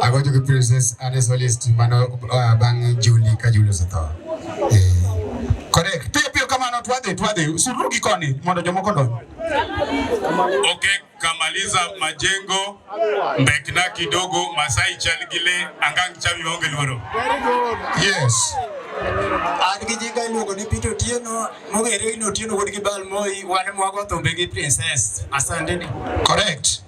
Ago jogi princess ane solist mano uh, bang' Juli ka Juli osetho. Eh. Correct. Piyo piyo kamano twadhi twadhi surugi koni mondo jomoko donj. Okay, kamaliza majengo mbekna kidogo Masai chal gi le angang chami onge luoro. Yes. An gi jinga iluongo ni Peter Otieno, mong'ere ni Otieno wuod gi Bal Moi, wan mwago thumbe gi princess. Asante ni. Correct.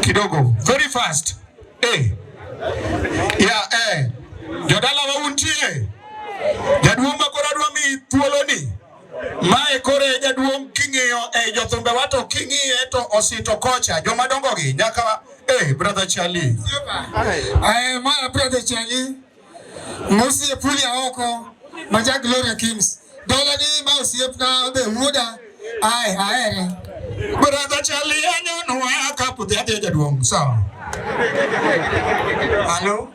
kidogo, very fast eh. Yeah, eh. Jodala wauntie jaduong' ma koro adwa mi thuoloni mae koro e jaduong' king'iyo e eh, jothumbe wato king'iye to osito kocha joma dongogi nyaka eh, brother Charlie. Aye, eh, my brother Charlie. Mosi epuli aoko maja Gloria Kings. Dola ni ma osiep na be wuoda ae aere. Brother Charlie anyono aka puthi adhi jaduong' sawa. Alo.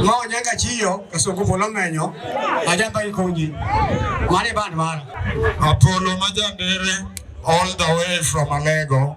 Ma onyanga chiyo kasoko polo menyo ajamba ikonyi. Mane band mara. Apolo majandere all the way from Alego.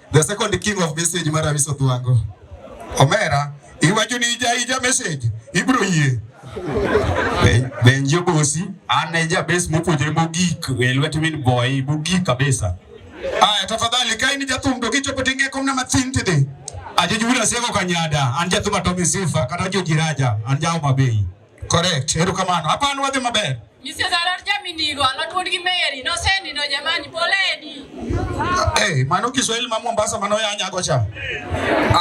The second king of message mar Abiso Thwango. Omera, iwacho ni ija ija message, ibro yie. Benjo bosi, an e jabes mopuonjore mogik e lwet min boy, mogik kabisa. Aya, tafadhali ka in jathum to kichopo tinge komna mathin tidi. Ajo jubila sego kanyada, an jathum atomi sifa, kata jo jiraja, an jao mabei. Correct, erukamano. Hapa an wadhi maber. Mr. Zarar Jaminigo alatuon gi Mary nosendi no jamani poleni. Hey, mano Kiswahili ma Mombasa mano ya nyago cha.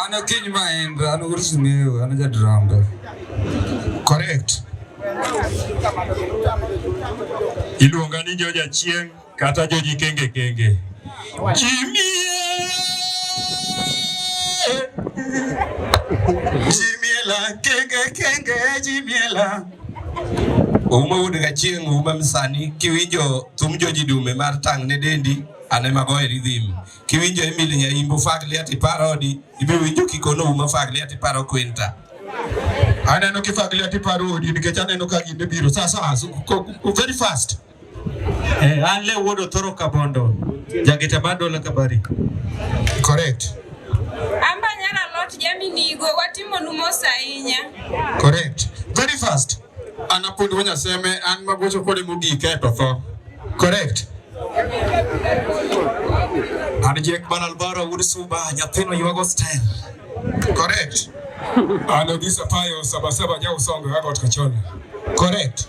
Ano kiny ma en ano kursu meyo ano ja drama. Correct. Iluonga ni Joja Chieng'. kata joji kenge kenge jimie jimiela kenge kenge jimiela uma wuod gachieng uma msani kiwinjo thum joji dume mar tang' ne dendi ane mago e ridhim kiwinjo emil nyaimbo fagli ati paro odi ibiwinjo kikono uma fagli ati paro kwenta aneno kifagli ati paro odi nikech aneno ka ginde biro sasa very fast Eh, an le wuod Othoro Kabondo, jageta mar Dola Kabari. Correct. Amba nyara lot jaminigo watimonu mos ahinya. Correct. Very fast. An apuonj wa Nyaseme, an magocho kode mogik e to tho. Correct. An Jack Ban Alvaro wuod Suba, nyathino ywago style. Correct. An Odisa Payo, Sabasaba, Nyausongo, Agot Kachola. Correct.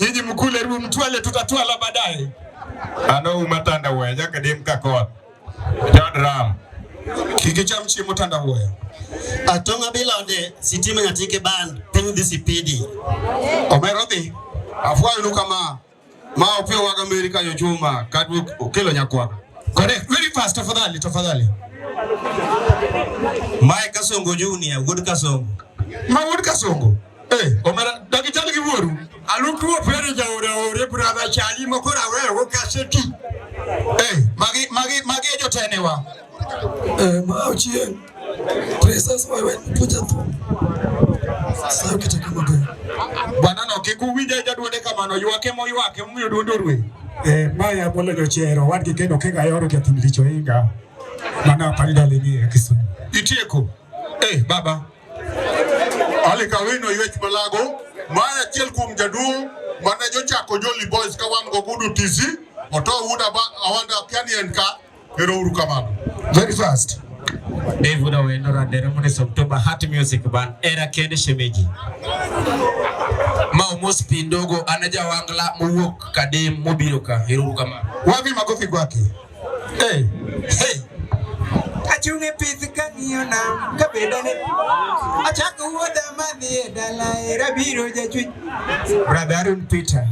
Nyinyi mkule ruo mtwale tutatwala baadaye. Ano umatanda waya jaka dem kakot. Don't ram. Kiki cham chi mutanda waya. Atonga bilode sitima nyatike band piny dhi sipidi. Omero dhi. Afwayo nu kama. Ma opio waga meri kanyo chuma kadwe okelo nyakwaka. Correct. Very fast tafadhali tafadhali. Mae Kasongo Junior, Wood Kasongo. Ma Wood Kasongo. Eh, omera dagichal gi wuoru. Alutuo pere jaore ore brother chali moko rawe go kaseti. Eh, magi magi magi e jotenewa. Eh, ma ochien. Presence wewe puja tu. Sasa ukitaka mambo. Bwana no kikuwinja jaduode kamano ywake mo ywake mumiyo duondo rwe. Eh, maya bolo jochero wadgi kendo kega yoro jathum licho inga. Mana apani dalini ya Kisumu. Itieko. Eh, baba. Ali Kawino Ywech Malago ma en achiel kuom jaduong' mane jochako Jolly Boys ka wan gogudu tizi oto wuda awanda kiani en ka ero uru kamano very fast Dave Wuda Wendo Radera Munis October Heart Music Band era kende shemeji ma omos pindogo ana jawangla mowuok kadem mobiro ka ero uru kamano wapi makofi kwake Hey, hey. Achung' e pith kang'iyo nam ka bedene achako wuodha madhi e dala era biro jachwech Brother Aaron Peter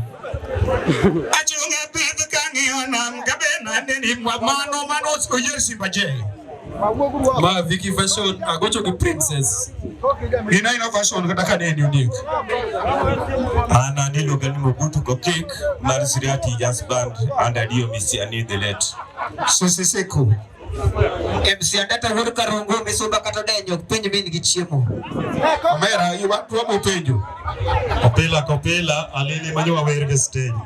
achung' e pith kang'iyo nam ka bedene ni mano mano oyer Simba Jay Ma Vicky Fashion agocho gi princess. Ina ina fashion kata ka neni ondik. Ana ni loga ni mogutu go kick mar Siriati Jazz Band and Adio Misi ani the late. So siseko. MC Adata Hur Karongo Misuba kata denyo penjo mimi gi chiemo. Omera iwa tuwa penjo. Opila kopila alili manyo wawer stage.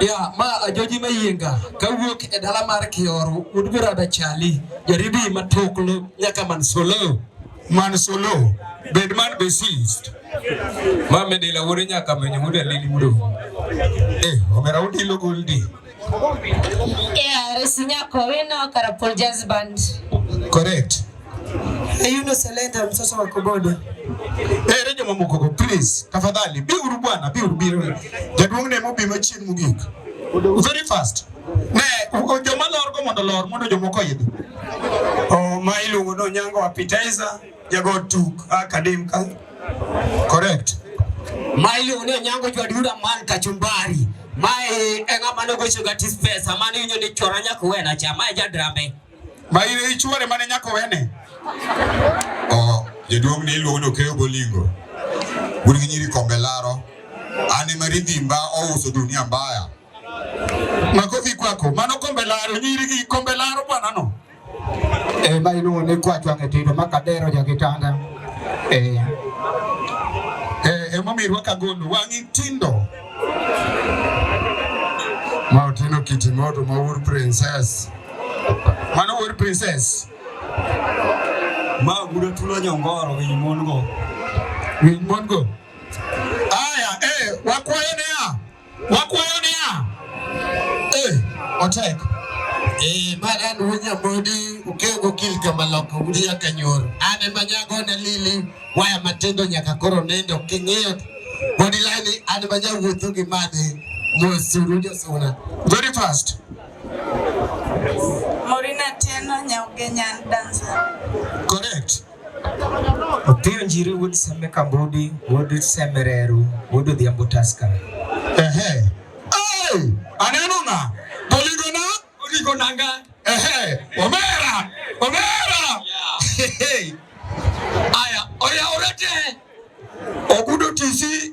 Ya, ma ajoji mayienga kawuok e dala mar Kioro udgura dachali jaribi matuklu nyaka man solo man solo bed man besist ma medela wore nyaka menyo muda lili mudo eh omera udilo goldi KRS Nyako Wino Karapul Jazz Band. Correct. Ayuno Selenda mtoto wa Kobodo. Eh, Rejo Mamukoko please, tafadhali bi uru bwana, bi uru biro. Jaduong' ne mobi machien mogik. Very fast. Ne joma lor go mondo lor mondo jomoko idhi. Oh, ma iluongo no nyango appetizer. Jago tuk akadim ka. Correct. Maili une nyango jwa dura man kachumbari. Mai enga mano gocho gatis pesa mani unyo ni chora nyako wena cha mai jadrambe. Maili ichwore mane nyako wene. Oh, jaduong ni iluongo ni Okeyo Bolingo. Un gi nyiri kombe laro. Ani maridhi mba ouso dunia mbaya. Makofi kwako. Mano kombe laro nyiri gi kombe laro bwana no. eh, ma iluongo ni kwacho ang'e tedo ma kadero ja kitanda eh. Eh, emomiyo irwaka gondo wang'i tindo ma otino kiti modo ma wuod princess mano wuod princess ma gudo tulo nyongoro winy mon go winy mon go aya eh, wakwayo ne Wakwayo niya, eh, otek. Eh, ma an wunya modi ukego kil kama loko udi ya kanyoro. Ane manyago na lili waya matendo nyaka koro nendo king'eyo. Bodi lani ane manyago wuotho gi madi mwesuru josuna. Very fast. Morina tena nyauge nyan dancer. Correct. Opiyo Njiri wuod Sembe Kambudi wuod Sembe Reru wuod Odhiambo Taska. Ehe. Hey! Aneno na. Poligo na. Poligo nanga. Ehe. Omera. Omera. Hey. Aya, oya orete. Ogudo tisi.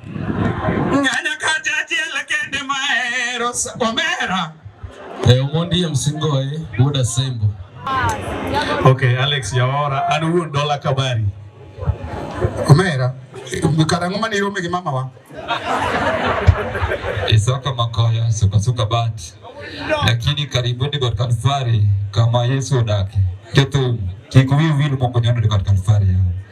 Ng'anya kacha achiel kende mahero omera. E omondi em singoe wuod Asembo. Okay, Alex Yawora, an wuon Dola Kabari. Omera, kara ng'oma ni irome gi mama wa? Isaka Makoya, suka suka bat. Lakini karibuni kwa Kalvari kama Yesu odake. Ketu, kikuyu wili moko nyondo kwa Kalvari yao.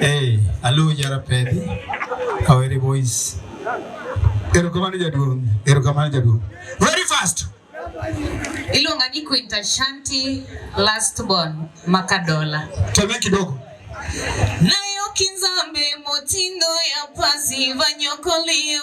Hey, alu jara pedi. Kawere boys. Erokamano jaduong', erokamano jaduong'. Very fast. Iluonga ni Quinta Shanti last born Makadola. Teme kidogo. Nayo kinzambe motindo ya pasi vanyokolio.